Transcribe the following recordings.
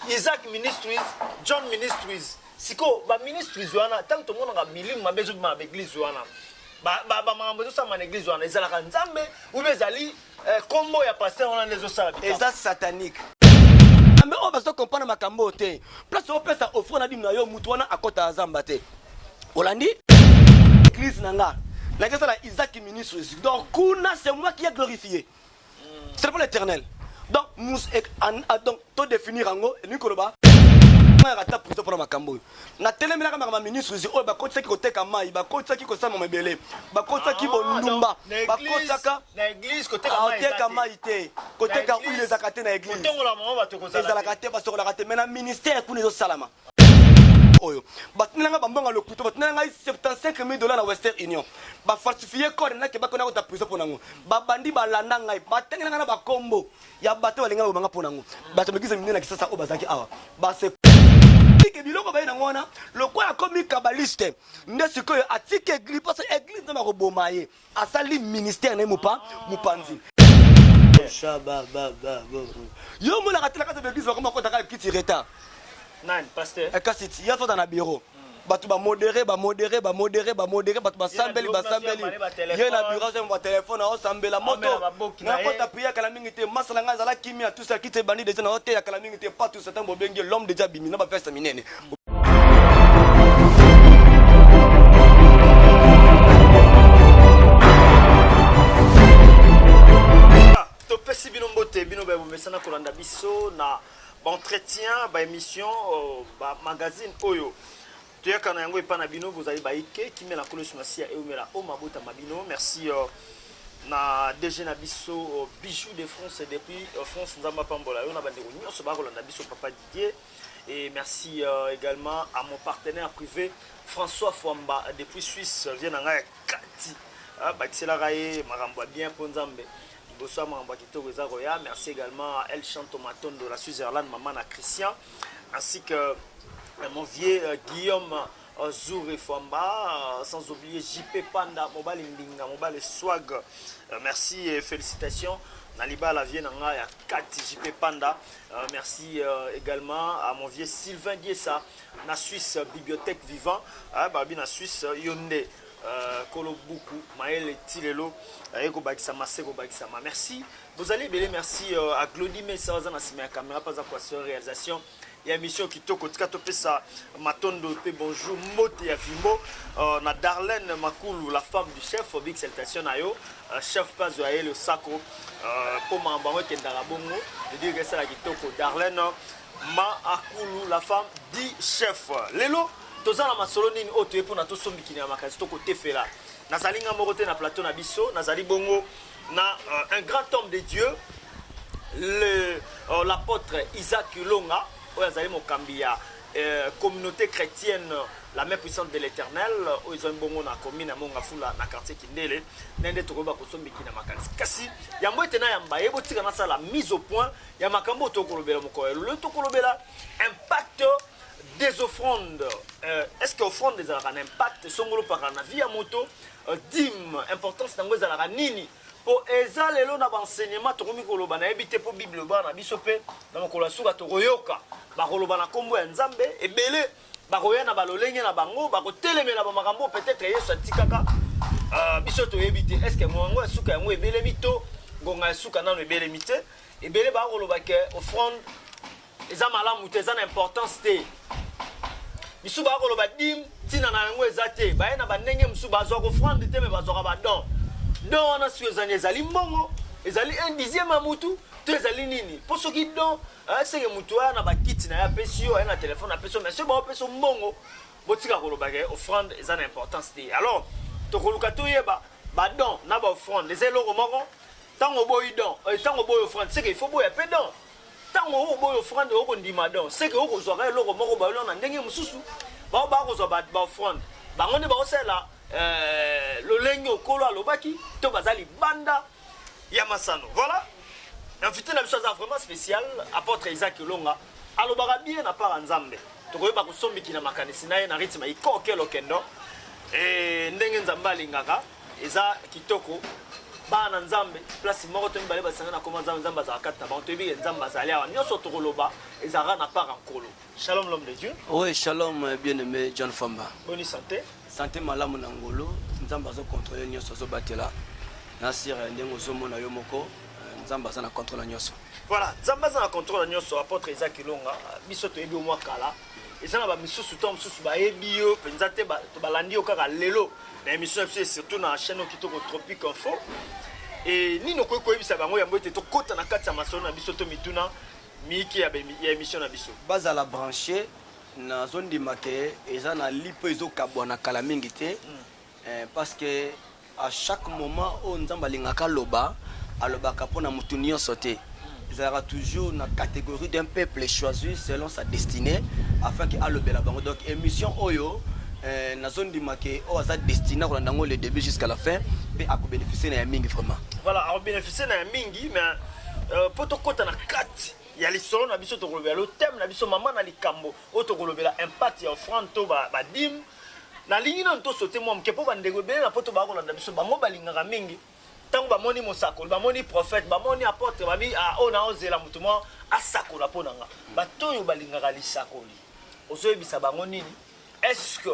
Isaac Ministries, John Ministries. Siko, ba ministries wana, tant que monde a milimu mabe zo ma église wana. Ba ba ba mambo zo sa ma église wana, ezala ka Nzambe ou bien ezali eh, combo ya pasteur wana lezo sala. Eza satanique. Ambe ah, oyo bazo comprendre makambo te. Place opesa offre na dime na yo, mutu wana akota azamba te. Olandi? Église na nga. Nakesala Isaac Ministries. Donc kuna c'est moi qui a glorifié. ce n'est pas l'éternel donc mus eh, ah, donc to définir yango elingi koloba nayaka ata prison mpona makambo oyo natelemelaka maka baministres oyo bakotisaki koteka mai bakotisaki kosala mama ebele bakotisaki ah, bondumba bakotisaka koteka ah, mai te koteka huile ezalaka te na eglise ezalaka te basokolaka te mai na ministère kuna ezosalama oyo batindela ngai bambongo ya lokuta batindela ngai 75 mille dollars na western union bafalsifie code nake bakona kota prison mpo nango babandi balanda ngai batangela ngai na bakombo ya bato balinga bakoba ngai mpo nango bato mekisa minene na kisasa oyo bazalaki awa base atiki biloko baye nango wana lokola akomi kabaliste nde sikoyo atiki eglise mposo eglise nzambe akoboma ye asali ministère na ye mopa mopanzi yo omonaka te na kati ya baeglise bakoma kotaka ya kiti retard nani pasteur eh, kasi ti ya fota na bureau hmm. bato bamodere bamodere bamodere bamodere bato basambeli basambeli ye na biro azwa batelefone aosambela moto nakota priya kala mingi te masala ngai azala kimia tusa kiti ebandi deja na oteya kala mingi te patusa ntango bobengi l'homme deja abimi na baveste minene topesi bino mbote bino baye bomesana kolanda biso na baentretien baémission euh, bamagazine oyo toyaka na yango epai na bino bozali baike kimia na kolosi masiya eumela o mabota ma bino merci euh, na dg na biso euh, bijou de france depuis france nzambe apambola yo na bandeko nyonso bakolanda biso papa didier Et merci euh, également à mon partenaire privé François Fwamba depuis Suisse vient na ngai kati ah, bakiselaka ye makambo ya bien mpo nzambe liboso ya makambo ya kitoko eza koya merci également à El Chanto Matondo la Switzerland mama na Christian ainsi que euh, mon vieux euh, Guillaume Euh, Zoure Famba, euh, sans oublier JP Panda, Mobali Mbinga, Mobali Swag. Euh, merci et félicitations. Naliba la vie nanga ya 4 JP Panda. merci également à mon vieux Sylvain Giessa, na Suisse bibliothèque vivant, ah, babi na Suisse Yonde. Euh, kolo buku maele ti lelo aye kobakisama se kobakisama merci bozali ebele merci euh, à glodi mesa aza na nsima ya caméra mpe aza koasure réalisation ya émission kitoko tika topesa matondo mpe bonjour mbote ya vimbo uh, na darlene makulu la femme du chef big salutation na yo uh, chef mpe azwa ye losako euh, mpo uh, makambo yango ekendaka bongo edirika esala kitoko darlene ma akulu la femme du chef lelo toza na masolo nini oyo toye mpona tosombikini ya makanisi tokotefela nazali nga moko te na plateau na biso nazali bongo na euh, un grand homme de Dieu le euh, l'apôtre Isaac Longa oyo azali mokambi ya euh, communauté chrétienne la main puissante de l'éternel oyo ezwami bongo na commune ya mongafula na quartier kindele na nde tokoyeba kosombiki na makanisi kasi yango ete nayamba ye botika nasala mise au point ya makambo oyo tokolobela mokolo ya lelo tokolobela impact des offrandes euh, est ce que offrande ezalaka na impact songolo mpaka na vie ya moto Dime, importance nango ezalaka nini? Po eza lelo na ba enseignement tokomi koloba na yebi te po Bible ba na biso pe na mokolo ya suka tokoyoka bakoloba na kombo ya Nzambe ebele bakoya na balolenge na bango bakotelemela ba makambo peut-être Yesu atikaka uh, biso toyebi te est-ce que ngonga ya suka yango ebelemi to ngonga ya suka nano ebelemi te ebele bakoloba ke offrande eza malamu te eza na importance te misusu baya koloba dime ntina na yango eza te baye na bandenge mosusu bazwaka ofrande te me bazwaka badon don wana sio ezani ezali mbongo ezali un dixième ya motu to ezali nini mpo soki don eh, seke motu aya na bakiti na ye apesi yo aye na telefone apesi yo mais soki baopesa mbongo botika koloba ke offrande eza na importance te alors tokoluka toyeba badon na baoffrande eza eloko moko ntango oboyi don ntango eh, oboyi offrande seke il faut boya mpe don Tango oko boya offrande oko ndima donc c'est que oko zwaka eloko moko ba yoli na ndenge mususu ba ba ko zwa ba ba offrande bango nde ba osala euh, lolenge okolo alobaki to baza libanda ya masano voilà invité na biso aza vraiment spécial apôtre Isaac Longa alobaka bien na part Nzambe tokoyeba kosombiki na makanisi na ye na rythme ikoke lokendo eh, ndenge Nzambe alingaka eza kitoko bana na nzambe place moko to mibale basanga na koma nzambe nzambe azalaka kati na bango toyebi ke nzambe azali awa nyonso tokoloba ezalaka na part ya nkolo shalom l'homme de dieu oui shalom euh, bien aimé john famba boni santé santé malamu na ngolo nzambe azokontrole nyonso azobatela na sire euh, ndenge ozomona yo moko euh, nzambe aza na controle ya nyonso voilà nzambe aza na controle ya nyonso apotre eza kilonga biso toyebi omwa kala eza na bamisusu ntango mosusu bayebi yo mpenza te balandi yo kaka lelo na émission ya biso surtout na chaîne oyo kitoko tropique info e nini okoki koyebisa bango yango ete tokɔta na kati ya masolo na biso to mituna miyike ya émission na biso bazala branche nazondima ke eza na lipo ezokabwana kala mingi te mm. Eh, parce que à chaque moment oyo nzambe alingaka aloba alobaka mpo na motu nyonso te ezalaka toujours na catégorie d'un peuple choisi selon sa destinée afin ke alobela bango donc émission oyo eh, nazondima ke oyo aza destiné akolanda yango le début jusqu'à la fin mpe akobénéficie na ya mingi vraiment voilà akobénéficie na ya mingi mais euh, mpo tokɔta na kati ya lisolo na biso tokolobela lo thème na biso mama na likambo oyo tokolobela impact ya offrande to badime ba Nalingi nanu to sauter mwa moke mpo bandeko ebele na poto baa kolanda biso, bango balingaka mingi ntango bamoni mosakoli, bamoni prophète, bamoni apotre, babi ah oyo naozela moto mwa asakola mpo na nga. Bato oyo balingaka lisakoli, ozoyebisa bango nini? Est-ce que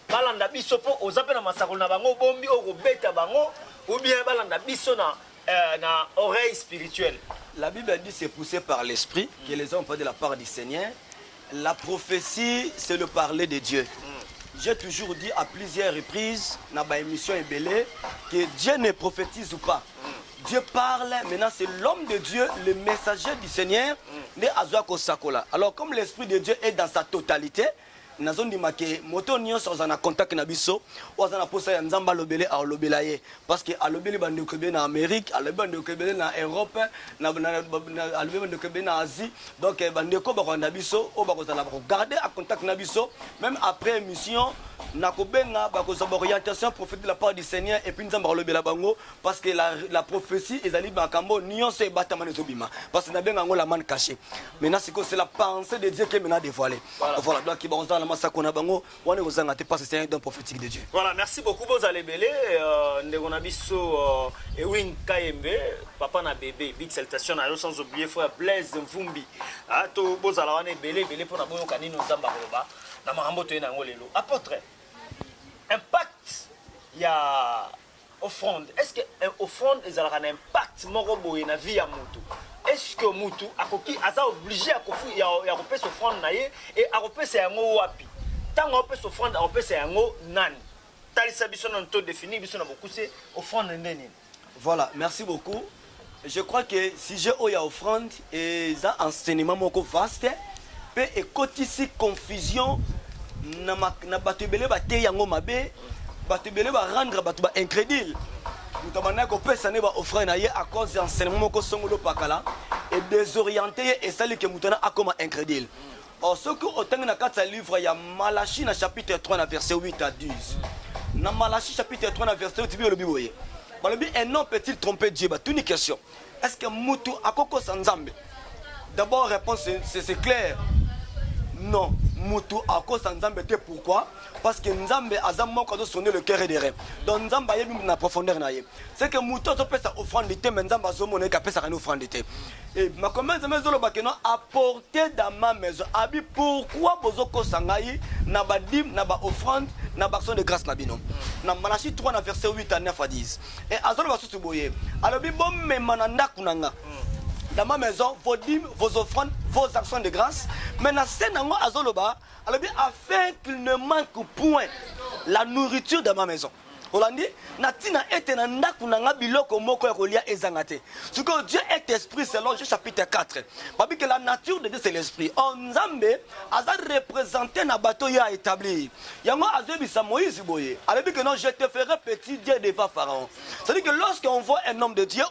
balanda biso mpo oza mpe na masakoli na bango obombi oyo kobeta bango ou bien balanda biso na euh, na oreille spirituelle. La Bible dit c'est poussé par l'esprit que les hommes pas de la part du Seigneur. La prophetie c'est le parler de Dieu. J'ai toujours dit à plusieurs reprises na ba émission ebele que Dieu ne prophétise pas. Dieu parle, maintenant c'est l'homme de Dieu, le messager du Seigneur, ne azwa kosakola. Alors comme l'esprit de Dieu est dans sa totalité, nazondima ke moto nyonso azala na contact na biso oyo aza na mposa ya nzambe alobele alobela ye parce que alobeli bandeko ebele na amérique alobi bandeko ebele na europe alobi bandeko ebele na asie donc eh, bandeko bakolanda biso oyo bakozala bakogarde a contact na biso même après émission nakobenga bakozwa baorientation prophète de la part du seigneur epuis nzambe akolobela bango parce que la, la prophétie ezali makambo nyonso ebatama na ezobima parce que nabenga yango la mane caché maintenant sikoyo c'est la pensée de dieu ke mena dévoile voilà donc bakozala na masako na bango wana ekozanga te parce que c'est un don prophétique de Dieu. Voilà, merci beaucoup bozala ebele euh, ndeko na biso euh, Ewing Kayembe, papa na bébé, big salutation na yo sans oublier frère Blaise Mvumbi. Ah to bozala wana ebele ebele mpo na boyoka nini Nzambe akoloba na makambo toye na yango lelo. Apôtre, impact ya Offrande est ce que eh, offrande ezalaka na impact moko boye na vie ya mutu est ce que mutu akoki aza oblige ya kofu ya, ya kopesa offrande na ye et akopesa yango wapi ntango akopesa offrande akopesa yango nani talisa biso nanu to définir biso na bokuse offrande nde nini Voilà, merci beaucoup. Je crois que sujet oyo ya offrande eza enseignement moko vaste pe ekotisi confusion na, ma, na bato ebele bateyi yango mabe bato ebele barendre bato ba incrédule moto abandaki kopesa nde baoffrande na ye à cause ya enseignement moko songolo pakala edesoriente ye esali ke moto wana akoma incrédule Or, soki otangi na kati ya livre ya Malachie na chapitre 3 na verset 8 à 10. Na Malachie chapitre 3 na verset 8 biolobi boye. Balobi un homme peut-il tromper Dieu? Batuni question. Est-ce que mutu akokosa Nzambe? D'abord réponse c'est clair. Non, mutu akosa Nzambe te pourquoi? parce que nzambe aza moko azo sonde le cœur et des reins donc nzambe ayebi na profondeur na ye c'est que moto azopesa offrande te mais nzambe azomona ye kapesaka ni offrande te e makombe ya nzambe ezoloba keno apporte dans ma maison abi pourquoi bozokosa ngai na badime na baoffrande na baaction de grâce na bino na malachi 3 na verset 8 à 9 à 10 e azoloba susu boye alobi bomema na ndako na nga dans ma maison vos dîmes vos offrandes vos actions de grâce mais na se nango azoloba alobi afin qu'il ne manque point la nourriture dans ma maison olandi na ntina ete na ndako na ngai biloko moko ya kolia ezanga te sikoyo dieu est esprit selon je chapitre 4 babi que la nature de dieu c'est l'esprit or nzambe aza représente na bato ye aétablir yango azoyebisa moïse boye alobi que non je te ferai petit dieu devant pharaon c'est-à-dire que lorsqu'on voit un homme de dieu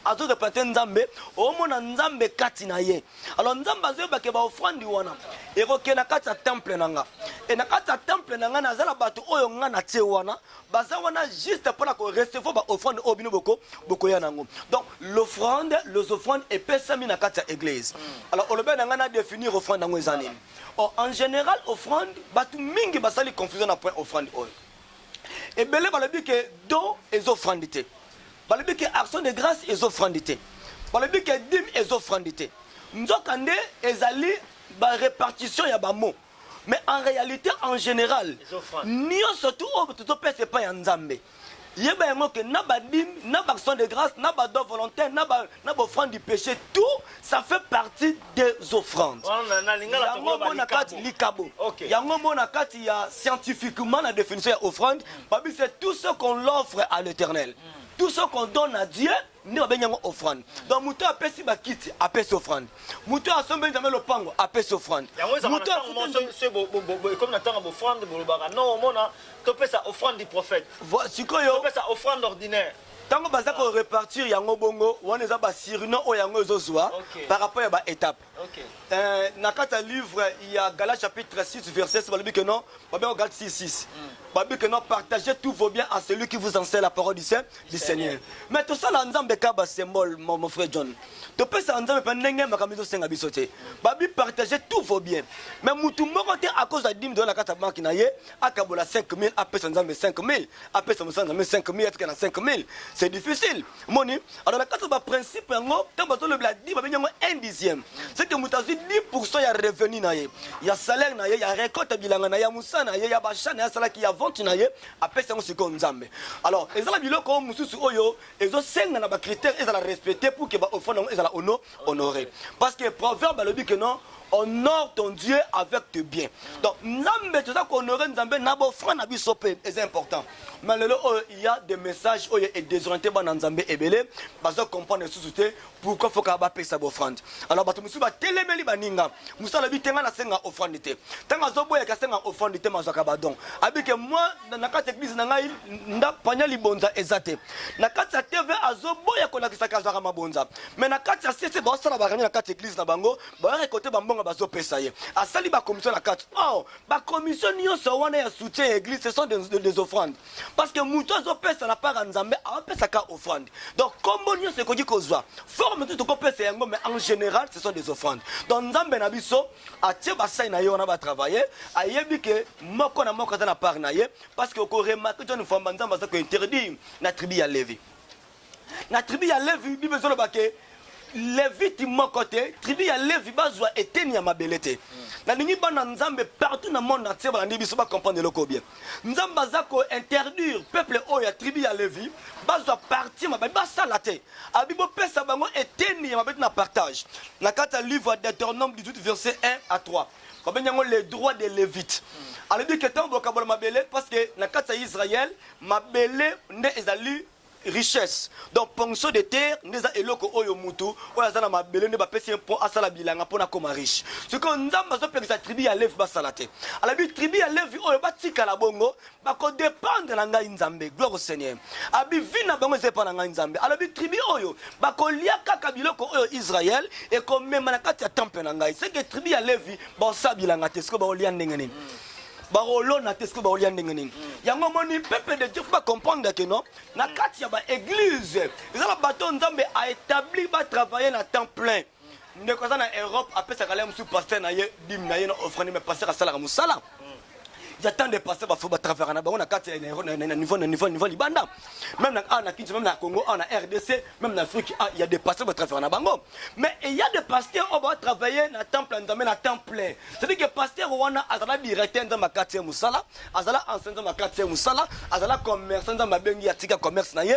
azoreprésente nzambe omona nzambe kati na ye alors nzambe azoyeba ke baofrandi wana ekokende na kati ya temple na nga e na kati ya temple na ngai naza na bato oyo ngai natie wana baza wana juste mpo na korecevoir baofrande oyo bino boko bokoya na yango donc l'offrande les offrandes epesami na kati ya église mm. alors olobeli na ngai na définir offrande yango eza nini oh, en général offrande bato mingi basali confusion na point offrande oyo ebele balobi ke don ezofrande te Balobi ke action de grace ezo frandi te. Balobi ke dime ezo frandi te. Nzoka nde ezali ba repartition ya ba mots. Mais en realite en general nionso tout oyo tozo pesa epai ya Nzambe yeba yango ke na ba dime, na ba action de grace, na ba dons volontaires, na ba na ba offrande du peche tout ça fait partie des offrandes yango mona kati likabo yango mona kati ya scientifiquement la définition ya offrande babi c'est tout ce qu'on l'offre à l'éternel hmm. tout ce qu'on donne à dieu nde babengi yango offrande donc moto oyo apesi bakiti apesi offrande moto oyo asombeli nzambe lopango apesi offrande ekomi na ntango bofrande bolobaka no omona topesa offrande du prophète sikoyo topesa offrande ordinaire tango baza ko repartir yango bongo wana eza ba surnom oyo yango ezo zwa okay. par rapport ya ba étape okay. euh, na kati ya livre ya gala chapitre 6 verset balobi que non babe ko gate 6 6 mm. babi que non partagez tous vos biens à celui qui vous enseigne la parole du Saint du Seigneur mais tout ça là nzambe ka ba symbole mon, mon frère John to pesa nzambe pa ndenge makambo ezo senga biso te babi partagez tous vos biens mais mutu moko te à cause ya dime de la kati ya banki na ye akabola 5000 apesa nzambe 5000 apesa mosala nzambe 5000 atika na 5000 c'est difficile moni alors na kati ya baprincipe yango ntango bazolobela di babengi yango un dixième seke moto azwi 10 pourcent ya revenu na ye ya salaire na ye ya récolte ya bilanga na ye ya mosala na ye ya bachat na ye asalaki ya vente na ye apesi yango sikoyo nzambe alors ezala biloko mosusu oyo ezosenga na bacritère ezala respecte pour ke baofrande yango ezala ono honorer parce que proverbe alobi que non honore ton dieu avec tes biens donc nzambe toza kohonore nzambe na bofra na biso mpe eza important mais lelo oyo il y a des messages oyo edesoriente bana nzambe ebele baza comprendre lisusu te pourquoi foka bapesa bofrande alors bato mosusu batelemeli baninga mosusu alobi te ngai nasenga ofrande te ntango azoboyaka asenga ofrande te mazwaka badon abike mwa na kati ya eglise na ngai ndapanya libonza eza te na kati ya tv azoboya kolakisaka azwaka mabonza mais na kati ya sese baosala barani na kati eglise na bango bayaka kote bambongo bazopesa ye asali bakomisio na kati or oh, bakomisio nyonso wana ya soutien ya eglise ce sont des, des, des offrandes parce que moto azopesa na part ya nzambe aopesaka offrande donc kombo nyonso ekoki kozwa forme tu tokopesa yango mais en général ce sont des offrandes donc nzambe na biso atie basai na ye wana batravaille ayebi ke moko na moko aza na part na ye parce que okoremake john famba nzambe aza kointerdire na tribu ya levi na tribu ya levi bible ezoloba ke leviti moko te tribu ya levi bazwa eteni ya mabele te nalingi bana nzambe partout na monde entier balandi biso bacomprendre eloko bien nzambe aza kointerdire peuple oyo ya tribu ya levi bazwa parti ya mabele basala te abi bopesa bango eteni ya mabele na partage na kati ya livre ya deuteronome 18 verset 1 à 3 babengi yango le droit de levite alobi ke ntango bokabola mabele parce que na kati ya israel mabele nde ezali richesse donc ponction de terre nde eza eloko oyo mutu oyo aza na mabele nde bapesi ye mpo asala bilanga mpo nakoma riche sikoyo nzambe azopekisa tribu ya levi basala te alabi tribu ya levi oyo batikala bongo bakodependre na ngai nzambe gloire au seigneur abi vi na bango eza epa na ngai nzambe alobi tribu oyo bakolia kaka biloko oyo israel ekomema na kati ya temple na ngai seke tribu ya levi baosala bilanga te sikoyo baolia ndenge nini bakolona te soki bakolia ndenge nini yango omoni peuple de dieu fo bacomprendre ke non na kati ya baeglise eza na bato nzambe aétabli batravaille na temps plein ndeko aza na europe apesaka le mosusu paster na ye dime na ye na offrande me paster asalaka mosala ya temps de passé bafo batravaka na bango na kati na niveau na niveau na niveau libanda même na awa na kinso même na congo awa na rdc Même na Afrique, ah, il y a des pasteurs qui travaillent na bango. Mais il y a des pasteurs qui vont travailler na temple, dans le temple. C'est-à-dire que pasteur Rwanda azala directeur dans ma quartier Moussala, azala enseignant dans ma quartier Moussala, azala commerçant dans ma bengi atika commerce na ye,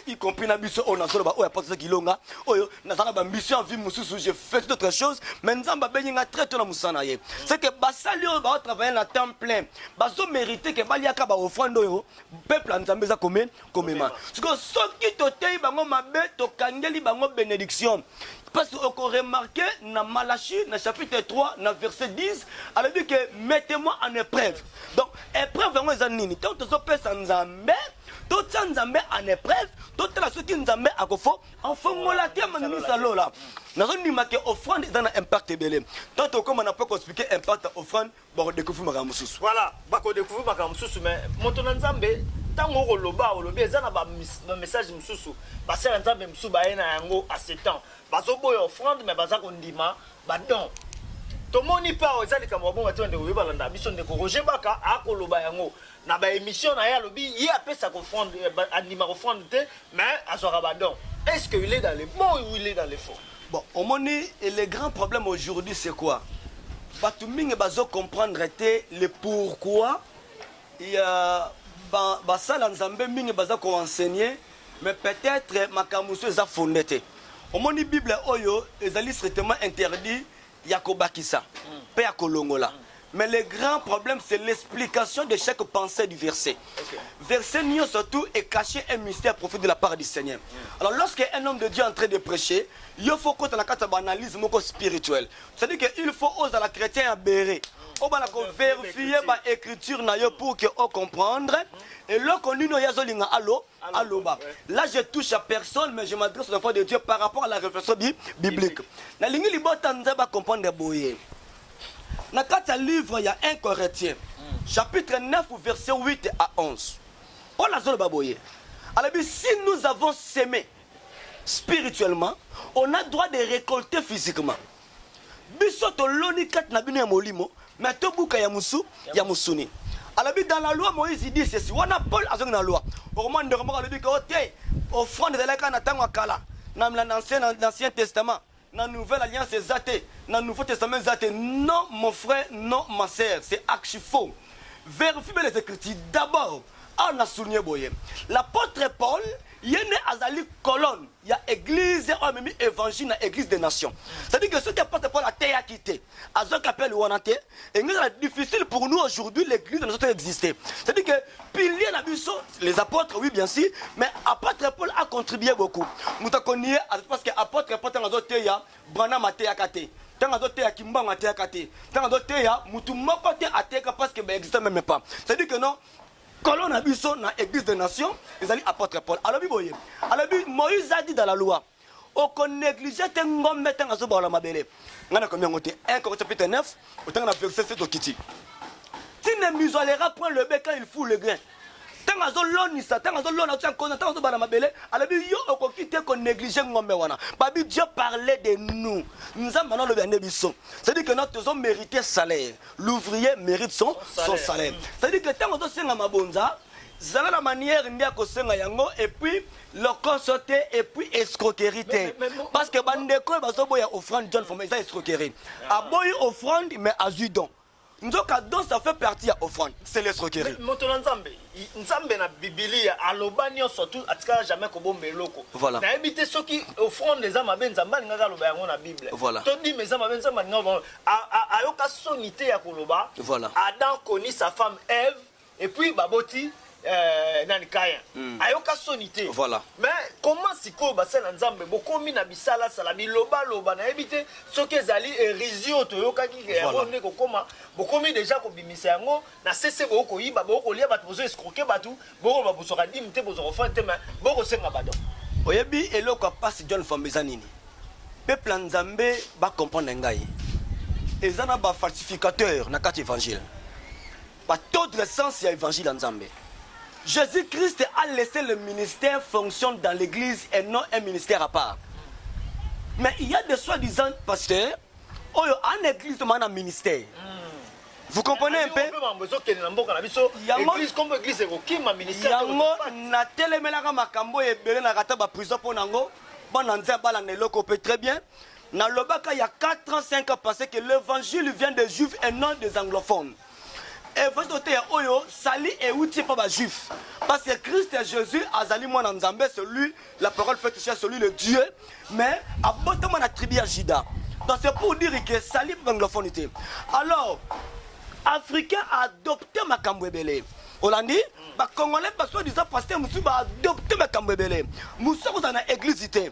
y compris na biso on a solo ba oya pasteur Kilonga, oyo na zala ba mission vie mususu, j'ai fait toute autre chose, mais nzamba bengi nga très tôt na Moussala ye. C'est que basali oyo ba travailler na temple, bazo mériter que baliaka ba offrande oyo peuple nzambe za comme komema sikoyo soki toteyi bango mabe tokangeli bango benediction parce que okoremarke na malachi na chapitre 3 na verset 10 alobi ke mettez-moi en épreuve donc épreuve yango eza nini ntango tozopesa nzambe totia nzambe en épreuve totala soki nzambe akofo afongola te maninisa lola nazondima ke offrande eza na impact ebele ntango tokoma na mpo koexplike impact ya offrande bako découvrir makambo mosusu voilà bako découvrir makambo mosusu mais moto na nzambe ntango okoloba olobi eza na bamessage mosusu basala nzambe mosusu baye na yango a ce temps bazoboya offrande mais baza kondima badon tomoni pao eza likambo babonga te ndeko yo balanda biso ndeko roger baka akoloba yango na ba émission na ye alobi ye apesa ko front eh, andima ko front te mais azwaka ba don est ce que il est dans le bon ou il est dans le faux bon omoni le grand problème aujourd'hui c'est quoi bato mingi bazo comprendre te le pourquoi ya basala ba nzambe mingi baza ko enseigner mais peut-être makambo mosusu eza fonde te omoni bible oyo ezali strictement interdit ya kobakisa pe ya kolongola mais le grand problème c'est l'explication de chaque pensée du verset okay. verset nio surtout est caché un mystère profite de la part du Seigneur mm. alors lorsque un homme de Dieu est en train de prêcher il faut qu'on ait une analyse moko spirituelle c'est-à-dire que il faut oser la chrétien à bérer obana koverifie baécriture na yo pour que ocomprendre eloko nini oyo azolinga alo aloba là je touche à personne mais je m'adresse aux enfants de Dieu par rapport à la réflexion bi, biblique nalingi libota nzambe acomprendre boye na kati ya livre ya 1 corinthien hmm. chapitre 9 verset 8 à 11 paul azoloba boye alobi si nous avons semé spirituellement on a droit de récolter physiquement biso toloni kati na bino ya molimo me tobuka ya mosu ya mosuni alobi dans la loi moïse dit ceci wana paul azongi na loi okomona ndeko moko alobi ke o te offrande ezalaki kaka na ntango ya kala na l'ancien testament na nouvelle alliance eza te na nouveau testament eza te non mon frère non ma sœur c'est archi faux vérifie bien les écritures d'abord awa na souligne boye l'apôtre paul ye nde azali colonne ya eglise oyo amemi evangile na eglise des nations c'est-à-dire que soki apate paul ateyaki te azwaki appel wana te engezala difficile pour nous aujourd'hui l'église na biso to existe c'est-à-dire que pilier na biso les apôtres oui bien sûr mais apôtre paul a contribué beaucoup moto akonie parce que apôtre paul ntango azoteya branam ateyaka te ntango azoteya kimbango ateyaka te ntango azoteya motu moko te ateyaka parce que baexiste meme pas c'est-à-dire que non Kolo na biso na Eglise des Nations ezali Apotre Paul. Alobi boye, alobi Moïse a dit dans la loi, oko negliger te ngombe tanga zo baola mabele. Ngana komi yango te. 1 Corinthiens chapitre 9, otanga na verset 7 okiti. Tu ne muselera point le bec quand il fout le grain. ntango azolonisa ntango azolona tia nkona ntango azobala mabele alobi yo okoki te konéglige ngombe wana babi dieu parle de nous nzambe ana alobi ande biso cestadire que no tozomérite salaire l'ouvrier mérite son, son salaire c'est-à-dire que ntango ozosenga mabonza zala na manière nde akosenga yango epuis lokoso te epuis escroquerie te parce que bandeko oyo bazoboya offrande john foma eza escroquerie ah. aboyi offrande mais azwi don nzoka don ça fait partie ya offrande c'est l'escroquerie moto na nzambe nzambe na bibilia aloba nyonso tu atikala jamais kobomba eloko voilà. nayebi te soki offrande eza mabe nzambe alingaka aloba yango na bible voilà. todima eza mabe nzambe alingaka ayoka soni te ya koloba voilà. adam coni sa femme eve et puis baboti euh, nani kayen mm. ayoka soni te voilà. mais comment sikoyo basala nzambe bokomi na bisalasala bilobaloba nayebi te soki ezali erisi oyo toyokaki yango nde kokoma bokomi deja kobimisa yango na sese bokoyiba bokolia bato bozo escroke bato Boko ba boswaka dime te bozwa offrande te mais boko senga badon. Oyebi eloko ya pasi John Famba eza nini? Peuple ya Nzambe ba comprendre ngai. Eza na ba falsificateurs na kati evangile. Ba tordre sens ya evangile ya Nzambe. Jésus Christ a laissé le ministère fonctionne dans l'église et non un ministère à part. Mais il y a des soi-disant pasteurs oyo en église tomana na ministère vous comprenez un peu yango natelemelaka makambo oyo ebele na kata baprison mpo na yango bana nze abala na eloko mpe très bien nalobaka ya 4 ans 5 ans passé que l'évangile vient des juifs et non des anglophones efesi toteya oyo sali euti mpo bajuif parce que christ ya jésus azali mwana nzambe celui la parole fait chair celui le dieu mais abotama na tribu ya juda donc c'est pour dire que sali banglophone te alors africain adopte makambo ebele olandi bacongolais basoi disant pasteur mosusu baadopte makambo ebele mosusu akozala na église te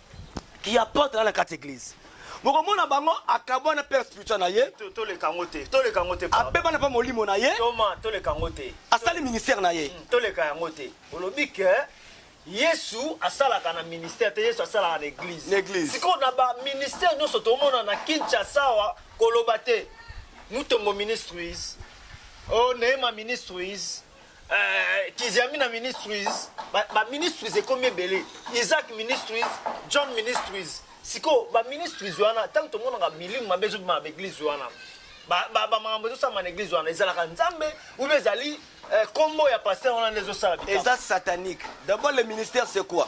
qui apporte là na carte église bokomona bango akabwa na père spirituel na ye toleka yango te toleka yango te abeba na mpe molimo na ye toma toleka yango te asali ministère na ye hmm, toleka yango te olobi ke yesu asalaka na ministère te yesu asalaka na église na église sikoyo na baministère nyonso tomona na kinshasa awa koloba te mutombo ministries o oh, neema ministries Euh, Kiziamina Ministries, ba, ba ministries ekomi ebele. Isaac Ministries, John Ministries. Siko ba ministries wana tant que tomonaka milimu mabe ezo bima ba église wana. Ba ba ba makambo ezo sama na église wana ezalaka Nzambe ou bien ezali euh, kombo ya pasteur wana nde ezo sala. Eza satanique. D'abord le ministère c'est quoi?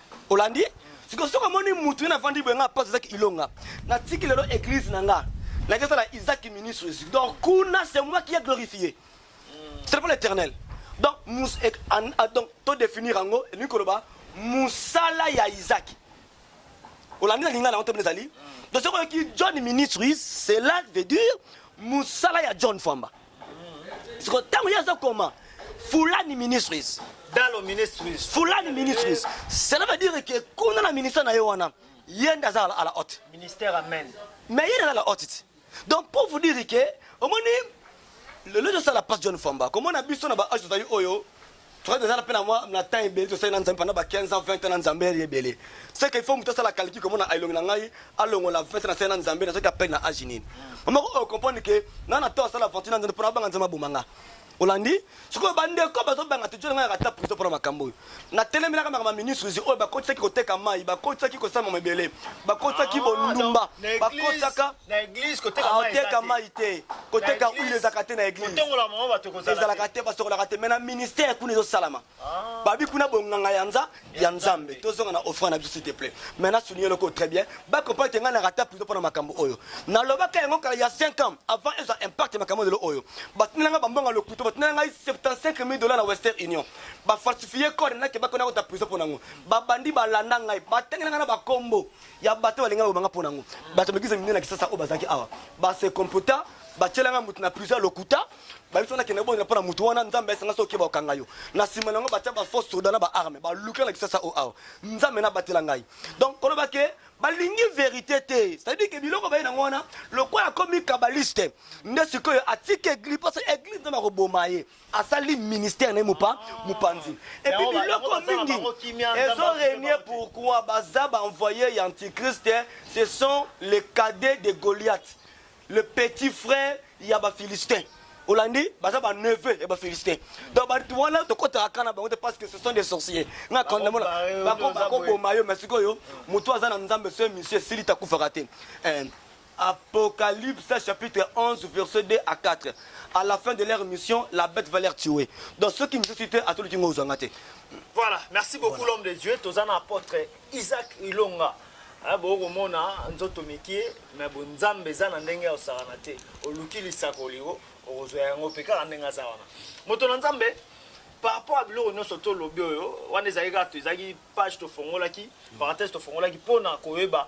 olandi siko soki omoni mutu ena avandi boye nga pasi ezaki ilonga natiki lelo eglise na nga nake sala isaki ministries donc kuna c'est moi qui a glorifié c'est pas l'éternel donc mus e, an, a, donc to définir yango elingi koloba musala ya isaki olandi na lingala yango te mpe ezali donc soki oyoki john ministries cela veut dire musala ya john famba siko ntango ye azokoma fulani ministries dalo ministries fulani ministries cela veut dire que kuna na ministère na ye wana ye nde aza à la haute ministère amen mais ye nde aza la haute ti donc pour vous dire que omoni lelo ezosala passe john famba komona biso na baage tozali oyo Frère de Zala pena moi na temps ebele to sena nzambe pendant ba 15 ans 20 ans na nzambe ye ebele. C'est que il faut muto sala calcul comme na ailongi na ngai alongo la 20 ans na sena nzambe na soki appel na âge nini. Maman ko comprendre que na na to sala aventure na nzambe pona banga nzambe bomanga. Olandi soki ba ndeko bazo banga te jona ngaka ta prison pona makambo oyo. Na telemi na kama ministre zi oyo bakotisaki koteka mai, bakotisaki kosama mebele, bakotisaki bondumba, bakotisaka na eglise koteka ah, mai teka mai te koteka huile ezalaka te na eglise kotongola mama bato kozala ezalaka te basokolaka te mais na ministère kuna ezosalama ah. babi kuna bonganga ya nza ya nzambe tozonga na offrande na biso s'il te plaît mais na souligne loko très bien ba comprendre nga na rata prison pona makambo oyo na lobaka yango kala ya 5 ans avant eza impact makambo de oyo batina nga bambonga lokuto batina nga 75000 dollars na western union ba falsifier code na ke bakona kota prison pona ngo ba bandi balanda ngai batenga nga na bakombo ya bato balingaka kobanga mpo na yango bato ya mikisa minene na kisasa oyo bazalaki awa base computa batyelanga moto na prison ya lokuta bayebi nakende kobondela mpo na moto wana nzambe ayesanga soki okeba okanga yo na nsima na yango batya baforce soda na baarme baluka na kisasa o awa nzambe nabatela ngai donc koloba ke balingi verité te cetadire ke biloko baye nango wana lokola akomi kabaliste nde sikoyo atika eglise mposo eglise nzambe akoboma ye asali ministère na ye mopa mopanzi epi biloko mingi ezo renie pourquoi baza baenvoye ya antichrist ce sont les cadets de goliath le petit frère ya baphilistin olandi baza ba neveu ya ba philistin donc bato wana tokotaka kana bango te parce que ce sont des sorciers nga kondamona bakoboma yo mais sikoyo motu aza na nzambe soye misio esili takufaka te eh, Apocalypse chapitre 11 verset 2 à 4 à la fin de leur mission la bête va leur tuer donc ceux qui ne disent pas atoluki ngo ozanga te voilà merci beaucoup l'homme de Dieu toza na apôtre Isaac Ilonga Eh, bokomona nzoto mikie me bonzambe eza na ndenge ya kosakana te oluki lisakoli o okozwa yango mpe kaka ndenge aza wana moto na nzambe par rapport ya biloko nyonso tolobi oyo wana ezali kaka ezalaki page tofongolaki parenthèse tofongolaki mpo na koyeba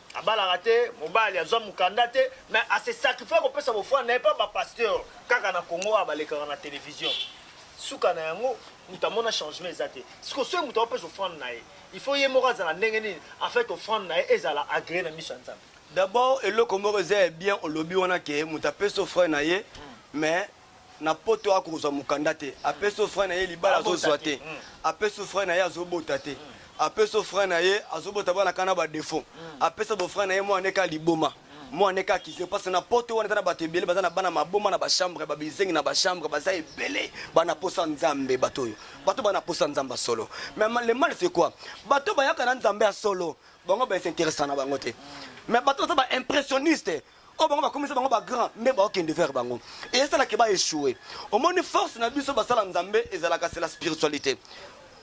abalaka te mobali azwa mokanda te mais ase sacrifie kopesa bofrande na ye mpo bapasteur kaka na congo oyo balekaka na télévision suka na yango moto amona changement eza te siko soki moto aopesa ofrande na ye il faut ye moko azala ndenge nini en fait ofrande na ye ezala agree na miso ya nzambe d'abord eloko moko eza ya bien olobi wana ke moto apesa ofrande na ye mais na poto aya kozwa mokanda te apesi yo frein na ye libala azozwa te apesi yo frein na ye azobota te apesi yo frein na ye azobota bana kaka na badefaut apesi yo bofrein na ye mwana neka liboma mwana neka akize mpasi na poto wana eza na bato ebele baza na bana maboma na bachambre babizengi na bachambre baza ebele bana posa nzambe bato oyo bato bana posa nzambe ya solo mais le mal c'est quoi bato bayaka na nzambe ya solo bango baesinteresa na bango te mais bato baza baimpressionniste oyo bango bakomisa bango ba grand nde baokende vers bango esalaki ba echoue omoni force na biso basala nzambe ezalaka se la spiritualité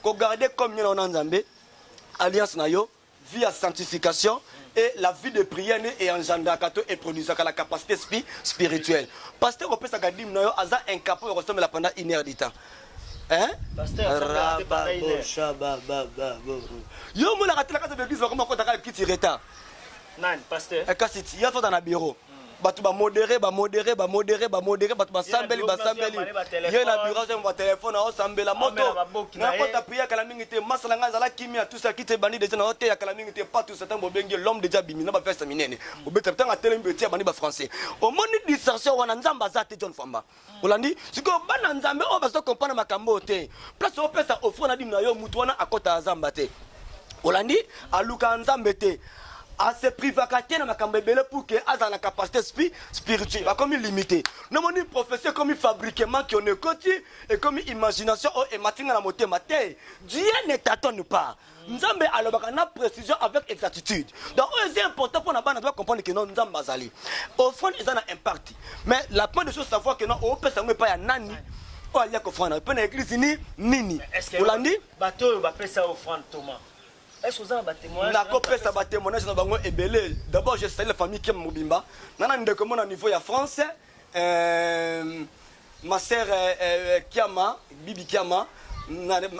kogarde comme nyana wana nzambe alliance na yo vie ya sanctification et la vie de prière nde eyanjandraka to eproduisaka la capacité spi spirituelle pasteur kopesaka dime na yo aza incapo ya kosambela pendant une heure du temps hein? yo omonaka telaka za baeglise bakoma kotaka kiti retard nani pasteur eh, kasi ti ya fata na bureau hmm. bato bamodere bamodere bamodere bamodere bato basambeli basambeli ye na biro azango batelefone aosambela moto nakota priya kala mingi te masala ngai azala kimia tusaki te bandi deja nao teya kala mingi te patusa ntango bobengi l'homme deja bimi na bafesta minene obeta ntango atelemi beti ya bandi bafrançais omoni distraction wana nzambe aza te john famba olandi sikoyo bana nzambe oyo bazo comprendre makambo oyo te place opesa ofre na dime na yo motu wana akota ya zamba te olandi alukaka nzambe te ase privaka te na makambo ebele pour que azala na capacité spi spirituel bakomi limité nomoni prophetie ekomi fabriquement kione ekoti ekomi imagination oyo ematinga na motema te dieu ne tatone pas nzambe alobaka na précision avec exactitude donc oyo eza important mpo na bana to bacomprendre ke no nzambe azali offrande eza na impact mais la point de chose savoir ke no opesa yango epai ya nani oyo alia kofrande na mpe na eglise ni nini olandi bato oyo bapesa offrande toma nakopesa batémoignage na bango ebele d'abord je sali la famille kem mobimba nga na ndeko mo na niveau ya français Euh, ma sœur euh, euh, Kiama, Bibi Kiama,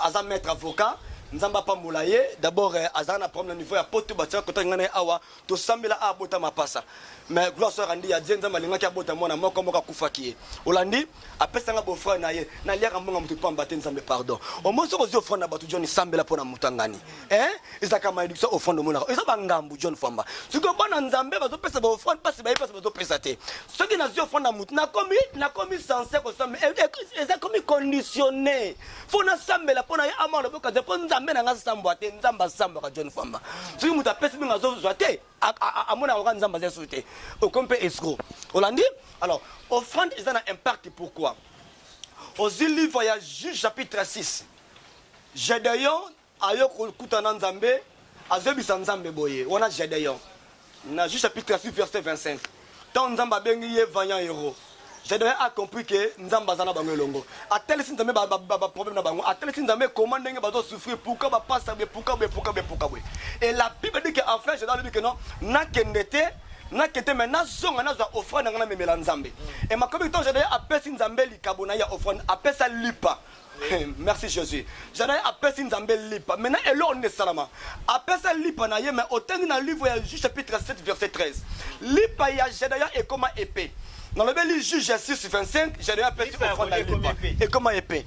aza maître avocat. nzambe apambola ye d'abord euh, azala na problème na niveau ya poto batika kotaki ngai na ye awa tosambela abota mapasa mais gloire soeur andi ya die nzambe alingaki abota mwana moko moko akufaki ye olandi apesanga bofrere na ye naliaka mbonga moto mpamba te nzambe pardon omosi okozwi ofrere na bato joni sambela mpo na moto angani eh ezaka malédiction offrande omonaka eza bangambu john famba sikoyo bana nzambe bazopesa baoffrande mpasi bayebi mpasi bazopesa te soki nazwi offrande na motu nakomi nakomi sense kosamba eh, eh, eza komi conditionne mpo nasambela mpo na ye amana loboka te mpo nzambe na ngai asambwa te nzambe asambwaka john famba soki moto apesi mingi azozwa te amonaka kaka nzambe aza lisusu te okomi mpe escro olandi alors offrande eza na impact pourquoi ozwi livre ya juge chapitre 6 gedeon Ayo kokuta na nzambe azoyebisa nzambe boye wana Gedeon na Juge chapitre 6 verset 25 tant nzambe abengi ye vaillant héros Gedeon a compris que nzambe aza na bango elongo atalisi nzambe ba, ba, ba, ba problème na bango atalisi nzambe comment ndenge bazo souffrir pourquoi ba pasa boye pourquoi boye pourquoi boye pourquoi boye et la bible dit que enfin Gedeon alobi que non nakende te nakende mais nazonga nazwa offrande nanga namemela nzambe et makomi que tant Gedeon apesi nzambe likabo na ye ya offrande apesa lipa merci jésus jadai apesi nzambe lipa maintenant eloko nini esalama apesa lipa na ye mais otangi na livre ya juge chapitre 7 verset 13 lipa ya jadaya ekoma epe nalobeli juge ya 6 25 jadaya apesi ofrande ya lipa ekoma epe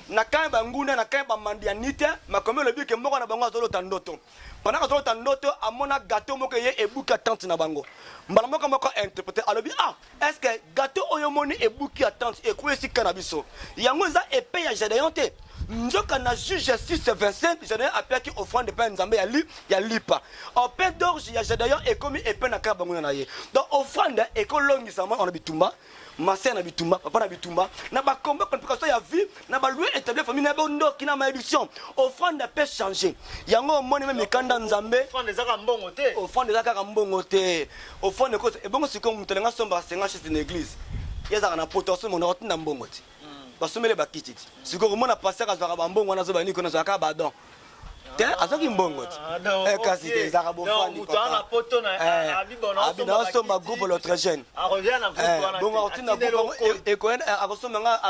na kani banguna na kani bamandi ya nite makomi elobi ke moko na bango azolota ndoto pendant azolota ndoto amona gato moko eye ebuki ya tante na bango mbala moko moko interprete alobi ah Est-ce que gâteau oyo moni ebuki ya tante ekweyi esika na biso yango eza epe ya Gedeon te nzoka na juge 6 25 Gedeon apiaki offrande epai ya nzambe ya, li, ya lipa ope dorge ya Gedeon ekomi epe na kaka banguna na ye donc offrande ekolongisama na bitumba masere na bitumba papa na bitumba na bakombe complication ya vie na ba lieu établi famille na bo ndoki na malédiction offrande peut changer yango omoni meme mikanda nzambe offrande ezaka mbongo te offrande ezaka kaka mbongo te offrande ko ebongo sikoyo moto alinga somba senga chez une église ezaka na poto asomo na otinda mbongo ti hmm. basomele bakiti ti sikoyo komona pasteur azwaka bambongo wana azobana niko nazwaka badon te azwaki mbongo te ah, eh, kasi te ezalaka bofandibinaosomba eh, groupe l'autre jeune ah, eh, bongo akotinda akosomba nga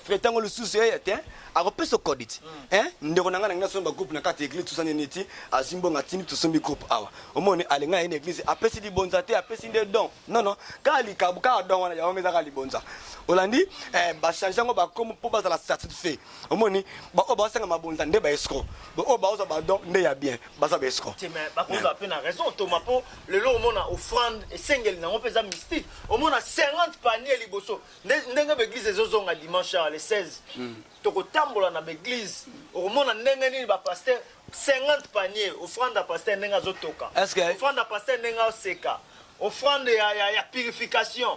frete yango lisusu eye te akopesa okodi ti hmm. ndeko na ngai nangi nasomba groupe na kati ya eglise tosani nini ti azwi mbongo atindi tosombi groupe awa omoni alinga ye na eglise apesi libonza te apesi nde don non non kaka likabu kaka don wana yango ezaka libonza olandi bachange yango bakomi mpo bazala satisfait omoni baoyo baosenga mabonza nde baescro baoyo baozwa badon nde ya bien baza baescro bakozwa mpe na raison toma mpo lelo omona offrande esengeli nango mpe eza mystique omona 50 panier liboso ndenge baeglise ezozonga dimanche ya le 16 hmm. tokotambola na baeglise okomona ndenge nini bapaster 50 panier offrande ya paster ndenge azotoka offrande ya paster ndenge aseka offrande ya purification